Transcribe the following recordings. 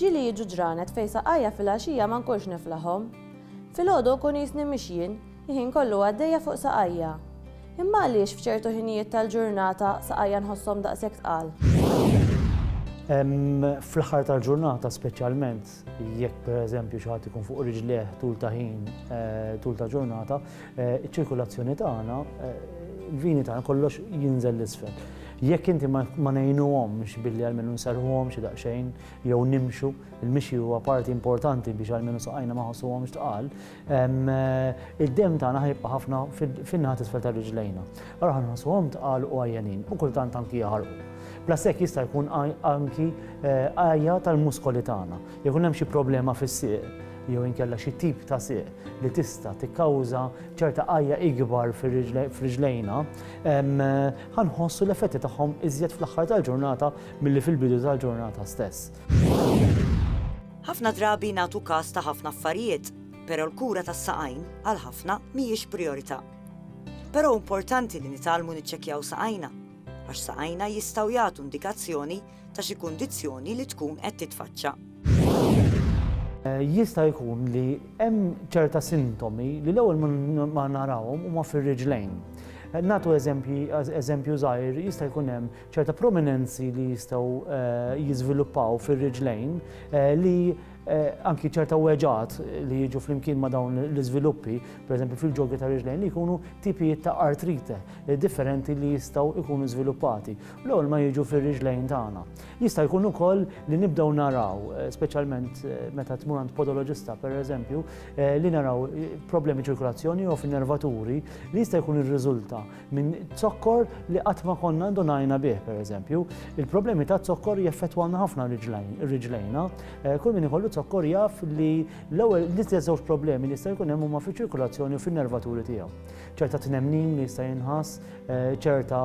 Ġieli jiġu ġranet fejn saqajja filgħaxija ma nkunx niflahom. Filgħodu nkun qisni mhix jien, il-ħin kollu għaddejja fuq saqajja. Imma għaliex f'ċertu ħinijiet tal-ġurnata saqajja nħosshom daqshekk tqal? Fl-aħħar tal-ġurnata speċjalment jekk pereżempju xi ħadd ikun fuq riġlejh tul ta' ħin, tul ta' ġurnata, Iċ-ċirkulazzjoni tagħna, il-vini tagħna kollox jinżel l-isfel. Jekk inti ma ngħinuhomx billi almenu nserrħuhom xi daqsxejn jew nimxu, il-mixi huwa parti importanti biex almenu saqajna ma jħossuhomx tqal, id-demm tagħna ħa jibqa' ħafna fin-naħa t'isfel ta' riġlejna. Allura ħa nħossuhom tqal u għajjanin u kultant anki jaħarqu. Bla stekk jista' jkun anki għajja tal-muskoli tagħna. Jekk ikun hemm xi problema fis-sieq jew inkella xi tip ta' sieq li tista' tikkawża ċerta għajja ikbar f'riġlejna, ħa nħossu l-effetti tagħhom iżjed fl-aħħar tal-ġurnata milli fil-bidu tal-ġurnata stess. Ħafna drabi nagħtu kas ta' ħafna affarijiet, però l-kura tas-saqajn għal ħafna mhijiex prijorità. Però hu importanti li nitgħallmu niċċekkjaw saqajna, għax saqajna jistgħu jagħtu indikazzjoni ta' xi kundizzjoni li tkun qed titfaċċa. Jista' jkun li hemm ċerta sintomi li l-ewwel ma narawhom huma fir-riġlejn. Natu eżempju żgħir jista' jkun hemm ċerta prominenzi li jistgħu eh, jiżviluppaw fir-riġlejn eh, li eh, anki ċerta weġat li jiġu flimkien ma' dawn l-iżviluppi, pereżempju fil-ġogi ta' riġlejn li jkunu tipijiet ta' artrite differenti li jistgħu jkunu żviluppati. L-ewwel ma jiġu fir-riġlejn tagħna. Jista' jkun ukoll li nibdew naraw, eh, speċjalment eh, meta tmur għand podoloġista pereżempju, eh, li naraw problemi ċirkulazzjoni jew f'nervaturi li jista' jkun irriżulta minn zokkor li qatt ma konna ndonajna bih pereżempju. Il-problemi ta' zokkor jeffettwana ħafna riġlejna. Kull min ikollu zokkor jaf li l-ewwel l-istess żewġ problemi li jista' jkun hemm huma fiċ-ċirkulazzjoni u fin-nervaturi tiegħu. ċerta tnemnin li jista' jinħass, eh, ċerta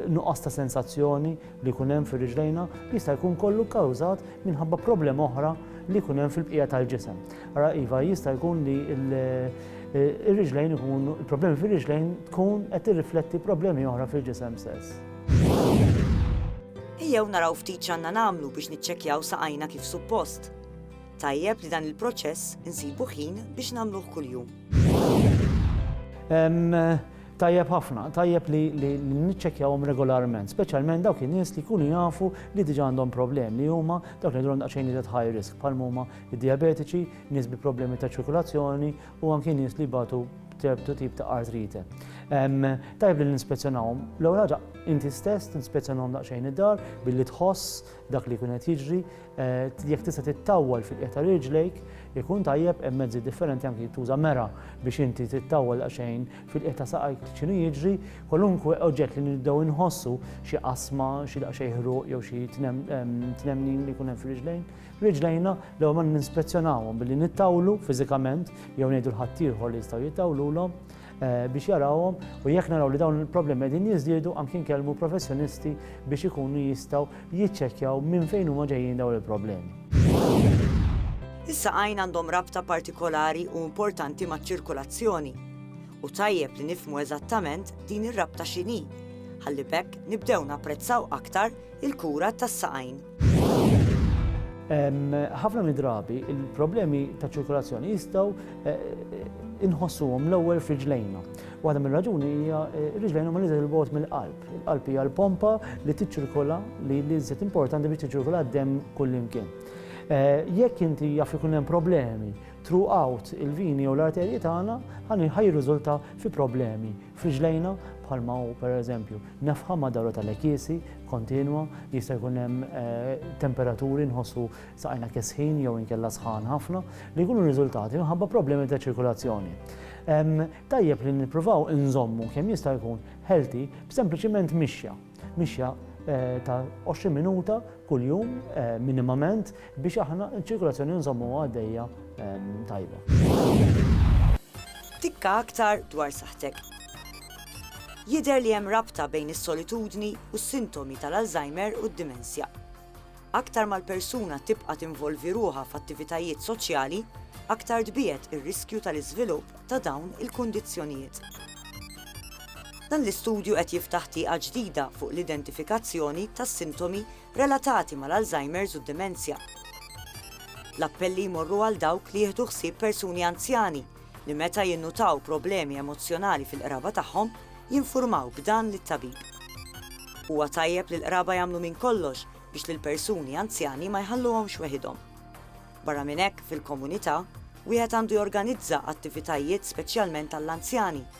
nuqqas ta' sensazzjoni li jkun hemm fir-riġlejna, jista' jkun kollu kkawżat minħabba problema oħra li jkun hemm fil-bqija tal-ġisem. Ara iva jista' jkun li eh, ir-riġlejn ikun il-problemi fir-riġlejn tkun qed tirrifletti problemi oħra fil-ġisem stess. Ejjew naraw ftit x'għandna nagħmlu biex niċċekkjaw saqajna kif suppost. Tajjeb li dan il-proċess insibu ħin biex nagħmluh kuljum. Tajjeb ħafna, tajjeb li niċċekkjawhom regolarment, speċjalment dawk in-nies li jkunu jafu li diġà għandhom problem li huma dawk li għandhom daqsxejn iżjed high risk bħal huma d-dijabetiċi, nies bi problemi ta' ċirkulazzjoni u anki nies li jbatu ċertu tip ta' artrite. Tajb li ninspezzjonawhom. L-ewwel ħaġa inti stess tinspezzjonahom daqsxejn id-dar billi tħoss dak li jkun qed jiġri, jekk tista' tittawwal fil-qiegħ ta' riġlejk, ikun tajjeb hemm mezzi differenti anki tuża mera biex inti tittawwal daqsxejn fil-qiegħ ta' saqajk x'inhu jiġri, kwalunkwe oġġett li nibdew inħossu, xi qasma, xi daqsxejn ħruq jew xi tnemnin li jkun hemm fir-riġlejn, riġlejna l-ewwel ma ninspezzjonawhom billi nittawlu fiżikament jew ngħidu l-ħaddieħor li jistgħu jittawlulhom, biex jarawhom u jekk naraw li dawn il-problemi qegħdin jiżdiedu anki nkellmu professjonisti biex ikunu jistgħu jiċċekkjaw minn fejn huma ġejjin dawn il-problemi. Is-saqajn għandhom rabta partikolari u importanti maċ-ċirkulazzjoni u tajjeb li nifhmu eżattament din ir-rabta x'inhi ħalli b'hekk nibdew napprezzaw aktar il-kura tas-saqajn. Ħafna mid-drabi il-problemi ta' ċirkolazzjoni jistgħu inħossuhom l-ewwel f'riġlejna. Waħda mir-raġuni hija eh, riġlejna ma nidher il-bot mill-qalb. Il-qalb hija l-pompa li tiċċirkola li li żiet importanti biex tiċċirkola d-dem kullimkien. Eh, jekk inti jaf ikun hemm problemi throughout il-vini jew l-arterji tagħna, ħajr riżulta fi problemi Fi ġlejna, bħalma hu per eżempju, nefħa ma' dawra ta' lekisi kontinwa, jista' jkun hemm temperaturi nħossu saqajna kesħin jew inkella sħan ħafna li jkunu riżultati minħabba problemi ta' ċirkulazzjoni. Tajjeb li nippruvaw inżommu kemm jista' jkun healthy b'sempliċiment mixja, mixja ta' 20 minuta kuljum minimament, biex aħna ċ-ċirkolazzjoni nżommuha għaddejja tajba. Tikka aktar dwar saħtek. Jidher li hemm rabta bejn is-solitudni u s-sintomi tal-Alzheimer u d-dimensja. Aktar mal-persuna tibqa' tinvolvi ruħha f'attivitajiet soċjali, aktar tbiegħed ir-riskju tal-iżvilupp ta' dawn il-kundizzjonijiet. Dan l-istudju qed jiftaħ tieqa ġdida fuq l-identifikazzjoni tas-sintomi relatati mal-Alzheimer's u d-demenzja. L-appelli jmorru għal dawk li jieħdu ħsieb persuni anzjani li meta jinnutaw problemi emozzjonali fil-qraba tagħhom jinfurmaw b'dan lit-tabib. Huwa tajjeb li l-qraba jagħmlu minn kollox biex lill-persuni anzjani ma jħalluhomx weħidhom. Barra minn hekk, fil-komunità, wieħed għandu jorganizza attivitajiet speċjalment għall-anzjani